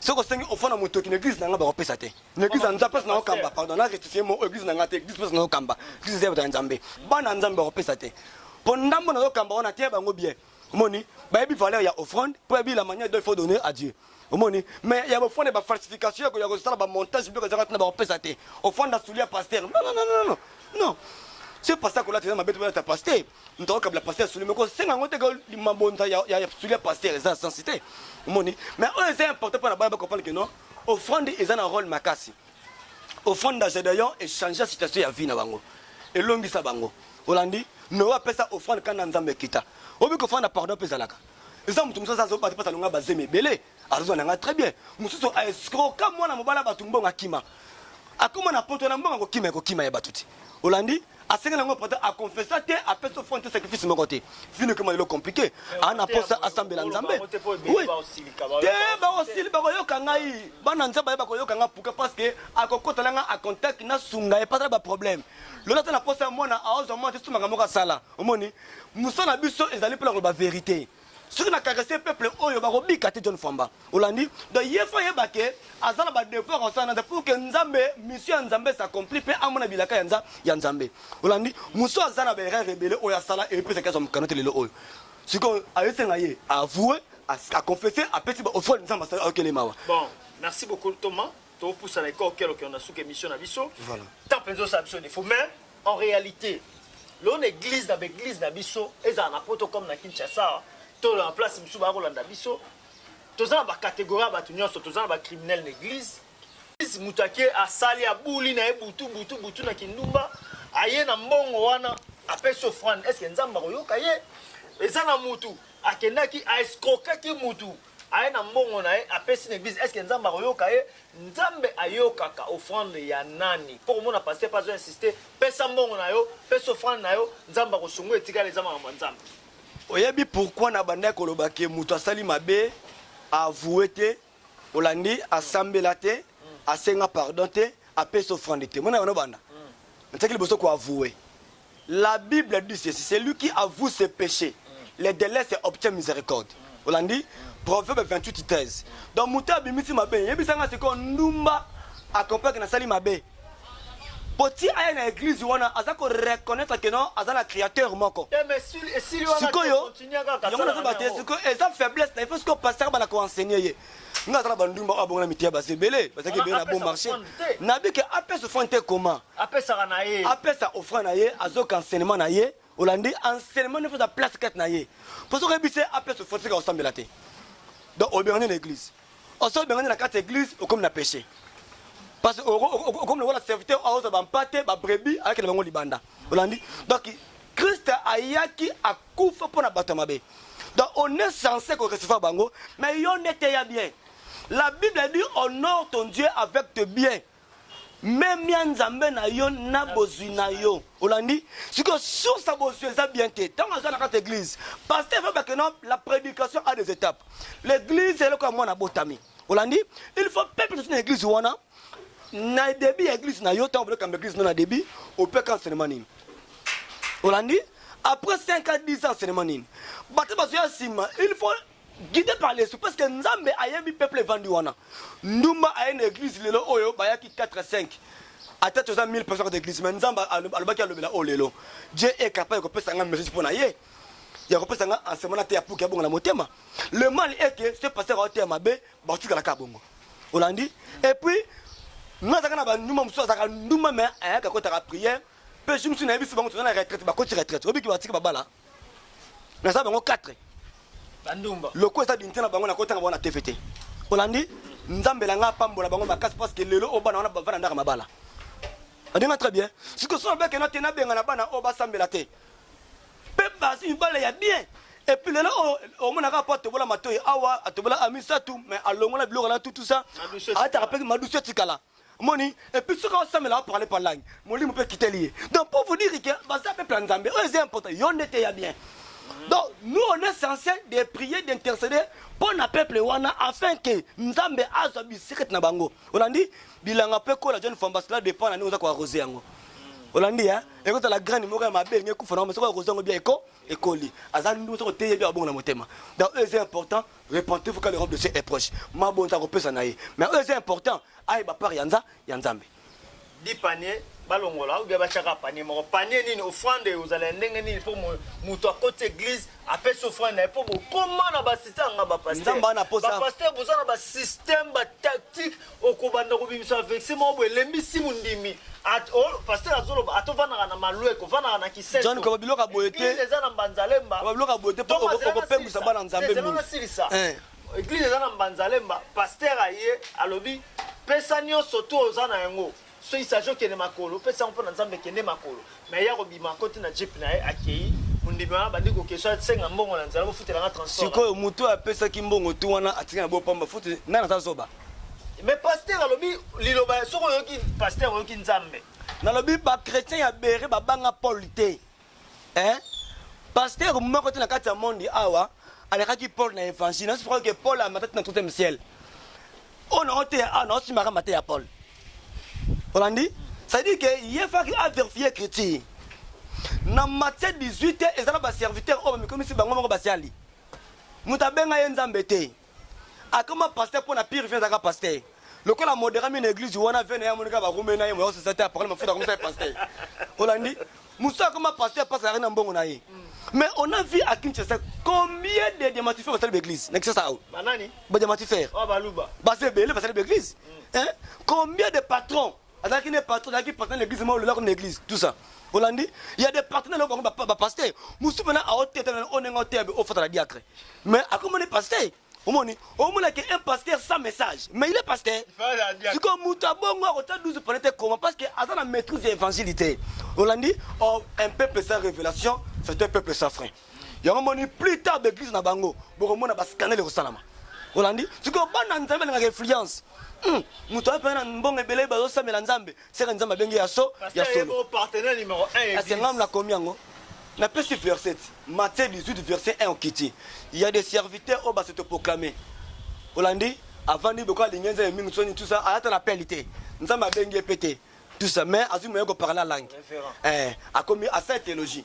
soki osengi ofo na motoki na eglise na ngai bakopesa te na eglise ya nzambe place naokamba pardon na rectifie mo eglise na ngai te eglise place naokamba eglise eza ya nzambe bana ya nzambe bakopesa te mpo ndambo nazokamba wana te bango bien omoni bayebi valeur ya offrande mpo yayebi la manière dont il faut donner à dieu omoni mais ya bofrande bafalsification ya kosala bamontage biloko ezaka ntina bakopesa te ofrande asuli ya paster non non non non non ce paster akolata eza mabe te balata paster ntoko kabila pasteur suli meko senga yango te mabonza ya suli ya pasteur eza na sensi te omoni mais oyo eza important mpo na bana bakomprendre ke non offrande eza na role makasi offrande ya gedeon echange ya situation ya vie na bango elongisa bango olandi noe apesa offrande kanda ya nzambe ekita obi kofanda pardon mpe ezalaka eza moto mosusu azobata mpasa longa bazemi ebele azozwa na ngai très bien mosusu aescroka mwana mobala bato mbongo akima akoma na poto na mbongo akokima ekokima ya bato te olandi asengeli yango prêtre a confessa te apesa offrande te sacrifice moko te vino ekoma lelo compliqué ana posa asambela nzambe te baosili bakoyoka ngai bana nzambe aye bakoyoka ngai puka parce que akokotala ngai a contact nasunga ye patala baproblème lola ata na posa ya mwana aozwa mwana te somaka moko asala omoni mosala na biso ezali mpona koloba verité soki na caresse peuple oyo bakobika te john famba olandi donc ye fo ayeba ke aza na badevoir asala na pour ke nzambe mission ya nzambe s'accompli mpe amona bilaka ya, nza, ya nzambe olandi mosu aza na baerreur ebele oyo asala epesaki azwa mokano te lelo oyo sikoyo ayesenga ye avoue aconfesse apesi baofrande nzambe asala okele mawa bon merci beaucoup thomas topusana ekokelo kelo na suka émission na biso voilà. temps mpenza osala biso defo mais en réalité lona église na baeglise na biso ezala na poto comme na kinshasa to na place mosusu baya kolanda biso toza na bacatégorie ya bato nyonso toza na bacriminel na église moto ake asali abuli na ye butu butu butu na kindumba aye na mbongo wana apesi ofrande estce nzambe akoyoka ye eza na motu akendaki aescrokaki motu aye na mbongo na ye apesi na eglise eske nzambe akoyoka ye nzambe ayokaka offrande ya nani mpo komona paster mpe azo insiste pesa mbongo na yo pesa offrande na yo nzambe akosungu etikala eza makambo ya nzambe oyebi pourkui na bandaki koloba ke moto asali mabe avoue te olandi asambela te mm. asenga pardon te apesa offrande te mona yango nobanda mm. nataki liboso koavoue La bible dit ceci celui qui avoue ses peches le delais se obtient miséricorde olandi proverbe 28 13 donc moto abimisi mabe yebisa nga sikoyo ndumba akompake nasali mabe po ti aya na eglise wana aza koreconnaitre ke non aza na créateur moko sikoyo yango nazoba te sikoyo eza faiblesse na ifo sikoyo pasteur bana koenseigne ye nga aza na bandumba oyo abonga na mitiya basi ebele bazalaki ebele na bon marché nayebi ke apesa offrande te koma apesaka na ye apesa offrande na ye azoka enseignement na ye olandi enseignement nefo aza place kati na ye mpo soki oyebi se apesa offrande sika osambela te donc obengani na église oso obengani na kati ya église okomi na péché parce okomi lokola serviteur aoza bampate babrebi ayaki na bango libanda olandi donc Christ ayaki akufa pona bato ya mabe. Donc on est censé ko recevoir bango, mais yo nde teya bien. La Bible dit honore ton Dieu avec tes biens. memia nzambe na yo na bozwi na yo olandi sikoyo source ya bozwi eza bien te ntango aza na kati ya église paster efa bakena la prédication a des étapes l'église eloko ya mwana abotami olandi il faut peuple toti na église wana na début ya église na yo ntango bino kamba église no na début opeka enseignement nini olandi après 5 ans 10 ans enseignement nini bato bazoya nsima il faut guidé par l'esprit parce que nzambe ayebi peuple evandi wana ndumba aye na église lelo oyo bayaki 4 5 ata toza 1000 personnes kota église mais nzambe alobaki alobela oyo lelo dieu est capable ya kopesa ngai message mpo na ye ya kopesa ngai enseignement na te ya puki abonga na motema le mal est que ce pasteur aoteya mabe bakotikala kaka bongo olandi et puis nga azalaka na banduma mosusu azalaka nduma me ayaka kotaka priere mpe jour mosusu nayebisi bango toza na retraite bakoti retraite obiki batiki babala naza bango 4 bandumba loko eza binti na bango nakotanga bango na tv te olandi nzambe na ngai apambola bango makasi parce que lelo oyo bana wana bavanda ndaka mabala adinga très bien sikoyo soki nabekena te nabengana bana oyo basambela te Pe bazi mibale ya bien. Et puis lelo oyo omonaka po atobola matoyi awa atobola a misato mais alongola biloko na tutu sa ataka pe madusu etikala moni et puis soki aosamela aparle pa langi molimo mpe ekiteli ye donc pour vous dire que baza peuple ya nzambe oyo eza important yo nde te ya bien donc nous on est censé de prier d'intercéder mpo na peuple wana afin que nzambe azwa bisekete na bango olandi Bilanga pe kola John Famba cela dépend na ndenge oza ko arroser yango. Olandi hein? Eko tala graine moko ya mabe nge kufa na mais soko arroser yango bien eko ekoli. Aza ndu soko teye bien abongo na motema. Donc c'est important, repentez-vous quand le robe de Dieu est proche. Ma bonta ko pesa na ye. Mais c'est important, aye ba part ya nza ya Nzambe. Di panier balongola ou bien bachaka panier moko panier nini offrande oyo ozala ya ndenge nini mpo moto akoti église apesi offrande na ye mpo bokoma na basystème nga bapaster boza na basystème batactique okobanda kobimisa vexe moko boye elembisi mondimi At- o- pasteur azoloba ata ovandaka na malweko ovandaka na kisenso John, koloba biloko ya boye te. Eglise eza na mbanzalemba Koloba biloko ya boye te, po Donc, oko- azela okopembusa nasilisa. bana Nzambe Te, zela mingi. nasilisa. Eh. eglise eza na mbanzalemba pasteur aye alobi pesa nyonso to oza na yango Soki Serge okende makolo opesi yango mpo na Nzambe kende makolo. Mais ye akobima akoti na jeep na ye akei mondimi wana abandi kokesho asenga mbongo na nzela bofutela nga transport. Sikoyo moto oyo apesaki mbongo tu wana atikali na bopamba futi nani aza zoba? Mais pasteur alobi liloba soki oyoki pasteur oyoki Nzambe. Nalobi ba chretien ya bere babanga Paul te. eh pasteur moko te na kati ya monde awa alekaki paul na évangile nasi crois que paul amata ti na troisième ciel oyo nango te awa nango simaka mate ya paul olandi c'est-à-dire que ye faki averifie écriture na matie 18 te eza na baserviteur oyo bamikomisi bango moko basiali moto abenga ye nzambe te akoma pasteur mpo na pire vie azaka pasteur lokola modera mi na eglise wana vie na ye amonika barume na ye moya osaza te apakali mafuta akomisa ye pasteur olandi mosusu akoma pasteur mpasi azalaki na mbongo na ye mais on a vu à kinshasa combien de diamatifere basali baeglise na kinshasa awa badiamatifere baza ebele basali baeglise combien de patrons azalaki ne patron azalaki patron na l'église moko lelako na église tout ça olandi il y a des partenaires loko bango bapasteur mosusu mpena aoteta onenge oteya be ofata na diacre mais akomoni pasteur omoni omona ke un pasteur sans message mais il est pasteur sikoyo moto ya bongo akotya 12 pone te koma parce que aza na maîtrise ya évangile te olandi oh, un peuple sans révélation c'est un peuple sans frein yango moni plus tard baeglise na bango bokomona bascandale ekosalama olandi sikoyo bana nzambe balingaka influence hmm, moto aye mpena na mbongo ebele bazosambela nzambe seka nzambe abenge ya so ya soloasengam nakomi yango napesi verset matthieu 18 verset 1 okiti ya des serviteurs oyo basotoproclame olandi avandi boko alingi nzambe mingi soni tusa ayata na peli te nzambe abengi ye mpe te tusa mais azwi moye koparla langue eh, akomi asali theologie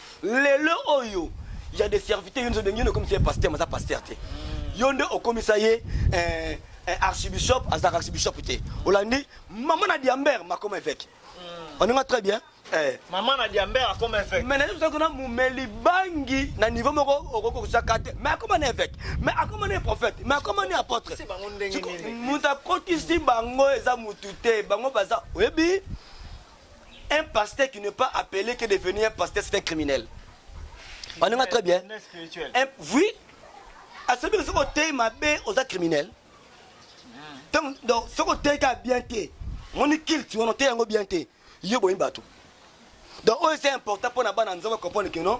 lelo oyo ya de serviteur yonde obengi yonde okomisa ye pasteur maza pasteur te yonde okomisa ye eh, eh, archibishop azalaka archibishop te olandi mama na diamber makoma eveke hmm. oninga très bien eh. mama na diamber akoma eveke mais nayebi soko na mumeli bangi na niveau moko okoki kosaka te mais akoma na eveke mais akoma na prophète mais akoma na apôtre moto akotisi bango eza motu te bango baza oyebi Un pasteur qui n'est pas appelé que devenu un pasteur c'est un criminel. On est très bien. Un, oui. À celui qui est mabe aux criminels. Hmm. Donc, ce côté est bien té. Mon culte, on est un bien té. Yo boy bato. Donc, oh, c'est important pour la bande de comprendre que non.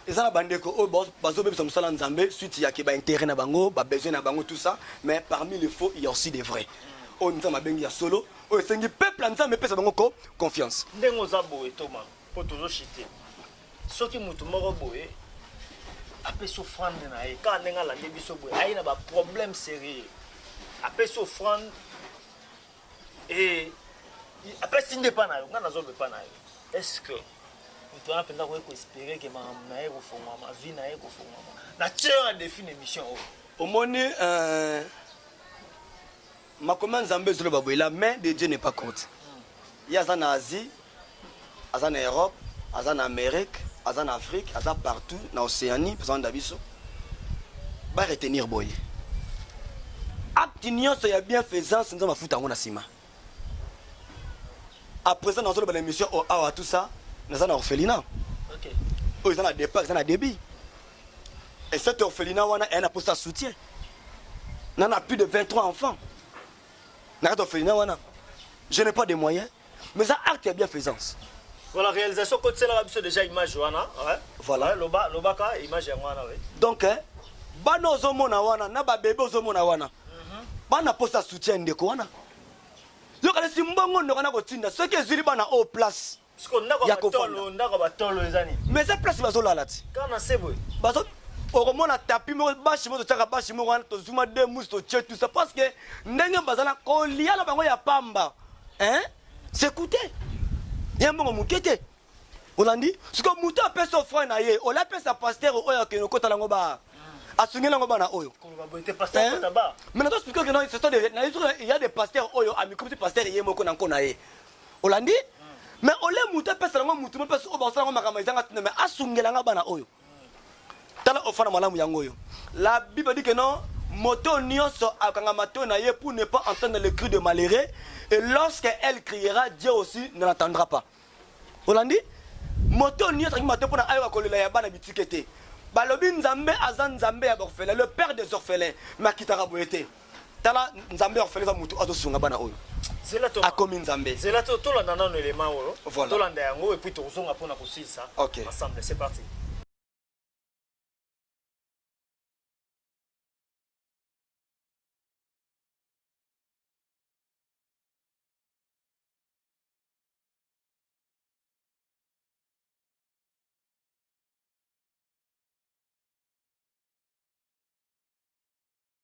eza na bandeko oyo oh, bazobebisa mosala nzambe suite ya ke baintérêt na bango babesoin na bango tout ça mais parmi le faux il y a aussi des vrais oyo nzambe abengi ya solo oyo esengi peuple ya nzambe epesa bango ko confiance ndenge oza boye toma mpo tozoshite soki motu moko boye apesi ofrande na ye kaka ndenge alandi biso boye aye na baproblème sérieux apesi ofrande e apesi nde epa na yo ngai nazoloba epa na yo est ce que moto wana mpenza akoki koespere ke makambo na ye kofongwama vie na ye kofongwama na tieur ya défi na émission oyo omoni euh, Makomi ya Nzambe ezoloba boye la main de Dieu n'est pas courte. Ye aza na Asie, aza na Europe, aza na Amerique, aza na Afrique, aza partout na Oceanie mpe azanda biso. Ba retenir boye. Acte nyonso ya bienfaisance Nzambe afuta yango na nsima. À présent nazoloba na émission oyo awa tout ça naza na orphelinat. Okay. Oyo eza na départ, eza na début. Et cette orphelinat wana elle a posé sa soutien. N'en a plus de 23 enfants. N'a pas d'orphelinat wana. Je n'ai pas de moyens, mais ça acte bien faisance. Voilà réalisation côté c'est là biso déjà image wana, ouais. Voilà. Ouais, loba lobaka image ya wana ouais. Donc hein, bana ozo mona wana na ba bébé ozo mona wana. Mhm. Bana posa soutien ndeko wana. Yo kala simbongo ndoko na kotinda soki ezili bana au place. Siko ndako ya batolo, ndako ya batolo eza nini? Mais eza place bazolala ti. Kaka na se boye. Bazo okomona tapi moko bashi moko totyaka bashi moko wana tozuma de musi totye tout ça parce que ndenge bazala kolia na bango ya pamba hein sekute ya mbongo moke te olandi siko moto apesi ofre na ye ola apesa paster oyo akende okotala yango ba asungeli yango bana oyo mais nazosuki oke na ya de paster oyo amikomisi paster ye moko na nko na ye olandi mais ole moto apesela ngo motu mopesa oyo bakosala ngo makambo ezanga ntina mais asungela nga bana oyo tala ofana malamu yango oyo la bible dit que non moto nyonso akanga matoi na ye pour ne pas entendre le cri de malheureux et lorsque elle criera dieu aussi ne l'attendra pas olandi moto nyonso akangi matoi mpo na ayoka kolela ya bana bitike te balobi nzambe aza nzambe ya baorphelin le père des orphelins makitaka boye te tala nzambe ya kofela eza motu azo sunga bana oyo zela to akomi nzambe zela to tolanda nano elema oyo voilà. tolanda yango et puis tokozonga pona kosilisa okay. ensemble c'est parti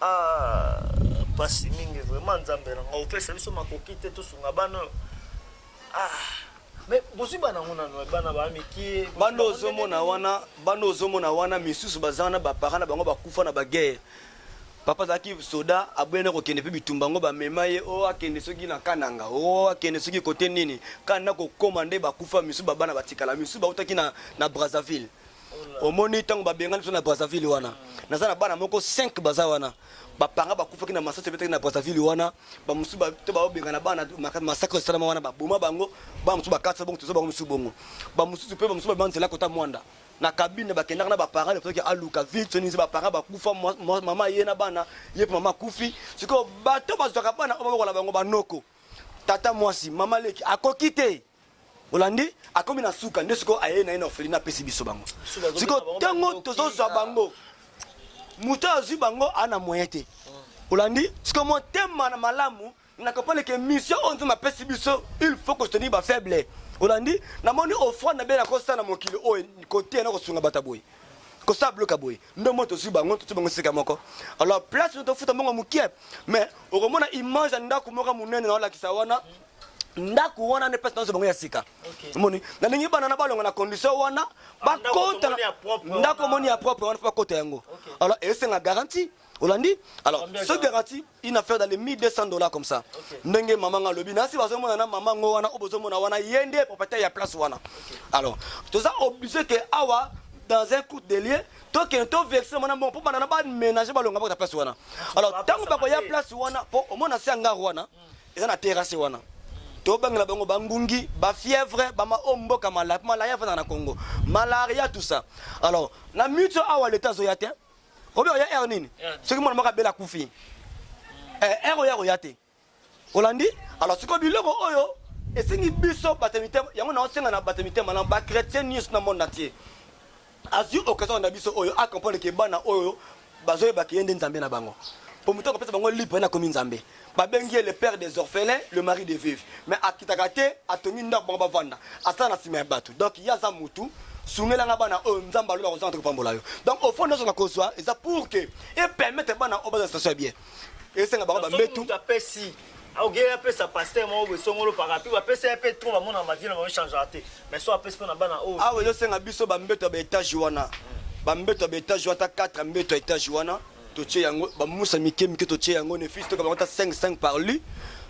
Ah, pasi mingi vraiment nzambe na ngai opesa biso makoki te tosunga bana oyo ah, mais bozwi bana yango nano bana baa mikie bozwi bana bango ozomona ndenge wana bana ozomona wana misusu baza wana baparent na bango bakufa na baguerre papa azalaki soda aboya na kokende mpe bitumba yango bamema ye o akende soki na kananga o akende soki kote nini kana na kokoma nde bakufa misusu babana batikala misusu bautaki na, na brazzaville omoni ntango babengani biso na brazzaville wana naza na bana moko 5 baza wana bapanga bakufaki na masasi ebetaki na brazzaville wana bamosusu to baobengana bana masakre esalama wana baboma bango bana mosusu bakatisa bongo toza bango mosusu bongo bamosusu mpe bamosusu babima nzela kota mwanda na kabine bakendaka na baparent efaki aluka vile sonize baparent bakufa mama ye na bana ye mpe mama akufi sikoyo bato bazwaka bana oyo bakola bango banoko tata mwasi mama leki akoki te olandi akomi na suka nde sikoyo aye na ye na orphelina apesi biso bango sikoyo ntango tozozwa bango moto oyo azwi bango aa na moyen te olandi sikoyo motema na malamu na comprendre ke mission oyo nzambe apesi biso il faut kostenir bafaible olandi namoni ofrande na bie nakosala na mokili oyo koteya na kosunga bato ya boye kosala bloka boye ndo mo tozwi bango tozwi bango esika moko alors place no tofuta mbongo mokie mais okomona image ya ndako moko monene naolakisa wana ndako wana nde place nazo bango ya sika omoni okay. nalingi bana na balonga na condition wana ah, bakota ndako moni ya propre wana bakota yango okay. alors esenga garantie olandi alors ce garantie une affaire dans les 1200 dollars comme ça okay. ndenge mama nga lobi nasi bazomona na mama ngo wana obozomona wana ye nde propriétaire ya place wana okay. alors toza obligé que awa dans un coup de lieu tokende toverse mwana mbongo mpo bana na baménage balonga bakota place wana alors ntango bakoya place wana mpo omona se ya ngare wana mm. eza na terrasse wana tobangela bango bangungi bafièvre bama o mboka malaya mpo malaya efandaka na congo malaria tout ça alors na mito awa leta azoya te obi oya aire nini soki mwana moko abela akufi aire eh, oyo akoya te olandi alors sikoyo biloko oyo esengi biso bato ya mitema yango naosenga na bato ya mitema na bakretien nyonso na monde entier azui occasion na biso oyo a comprendre que bana oyo bazo yeba que ye nde nzambe na bango po mutu akopesa bango libre na komi nzambe babengi ye le père des orphelins le mari de veuve mais akitaka te atongi ndako bango bavanda asala na sima ya batu donc ye aza mutu sungela nga bana oyo nzambe alola kozanga te kopambola yo donc au fond nyoso na kozwa eza pour que e permettre bana oyo baza na situation ya bien esenga bango ba mbetu aokeli apesa paster moko boye songolo parapi bapesa ye mpe tro bamona bavie na bango changera te mais so apesi mpo na bana oyo awa ezosenga biso bambeto ya baetage wana bambeto ya baetage wana ata 4 mbeto ya etage wana totie yango bamusa mike mike totie yango nefisi toka bango ata 5 5 par lu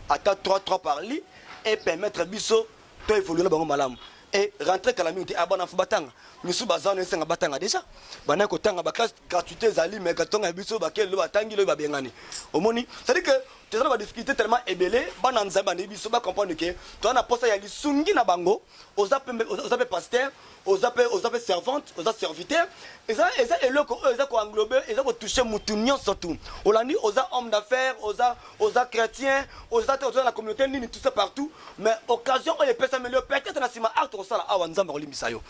ata 3 3 par lu epermettre biso to evolue na bango malamu et rentrer kala mingi te abana fo batanga misusu baza wana esenga batanga deja bana kotanga baklasse gratuité ezali mais katonga ya biso bakeli lo batangi loyo babengani omoni cestadi que toza na badifficulté tellement ebele bana nzambe bandi biso bacomprendre ke toza na mposa ya lisungi na bango oza mpe pasteur oza pe oza pe servante oza serviteur eza eza eloko oyo eza ko englobe eza ko toucher mutu nyonso tu olandi oza homme d'affaires oza oza chrétien oza te oza na communauté nini tout ça partout mais occasion oyo epesameli yo peut-être na sima acte okosala awa nzambe akolimbisa yo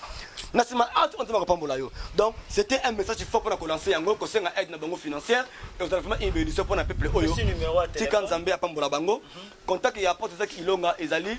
na sima acte oyo nzambe akopambola yo donc c'était un message fort mpona kolancer yango kosenga aide na bango financière ekozala vraiment une bénédiction mpona peuple oyo tika nzambe apambola bango contact ya porte ezaki ilonga ezali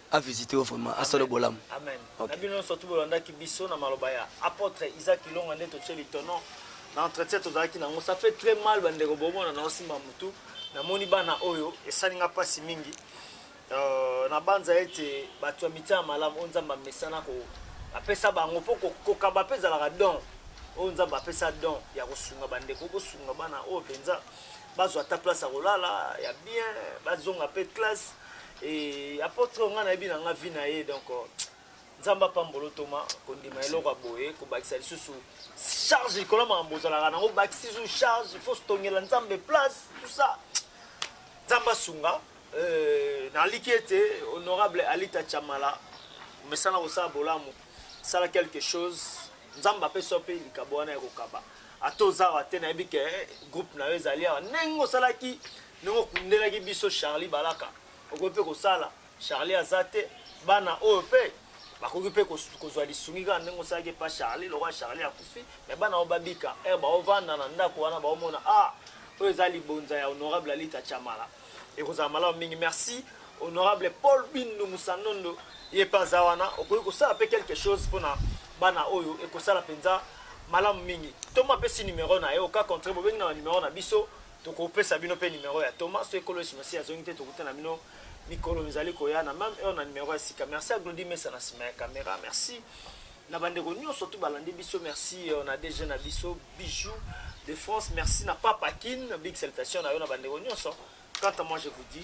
a visite yo vraiment asala bolamu amen okay. na bino nyonso tu bolandaki biso na maloba ya apôtre Isaac Ilonga nde totie litono na entretien tozalaki nango ça fait très mal bandeko bomona na osimba mutu namoni bana oyo esali nga mpasi mingi euh, nabanza ete bato ya mitia ya malamu oyo nzambe amesana apesa bango mpo kokaba mpe ezalaka don oyo nzambe apesa don ya kosunga bandeko bosunga bana oyo mpenza bazwa ata place ya kolala ya bien bazonga mpe classe Et apôtre oyo ngai nayebi na ngai vie na ye donc euh, nzambe apambolo ntoma kondima eloko ya boye kobakisa lisusu charge likolo ya makambo ozalaka nango obakisi lisusu charge il faut tongela nzambe place tout ça nzambe asunga euh, naliki ete honorable alita chamala omesana kosala bolamu sala quelque chose nzambe apesi yo mpe likabo wana ya kokaba ata oza awa te nayebi ke eh, groupe na yo ezali awa ndenge osalaki ndenge okundelaki biso Charlie Balaka okoki mpe kosala Charlie aza te bana oyo mpe bakoki mpe kozwa lisungi kaka ndenge osalaki epa Charlie lokola Charlie akufi me bana oyo babika ere eh, baovanda na ndako wana baomona ah oyo eza libonza ya honorable Alita Chamala ekozala malamu mingi merci honorable Paul Bindu Musanondo ye mpe aza wana okoki kosala mpe quelque chose mpona bana oyo ekosala mpenza malamu mingi toma apesi numero na ye oka contre bobengi na banumero na biso Tokopesa bino mpe nimero ya Thomas soki Nkolo Yesu Masiya azongi te, tokutana bino mikolo mizali koya na meme heure na nimero ya sika. Merci ya Glodi Mesa na nsima ya kamera. Merci na bandeko nyonso tu balandi biso. Merci euh, na DG na biso Bijou de France. Merci na Papa Kin. Big salutation na yo na bandeko nyonso. Quant à moi, je vous dis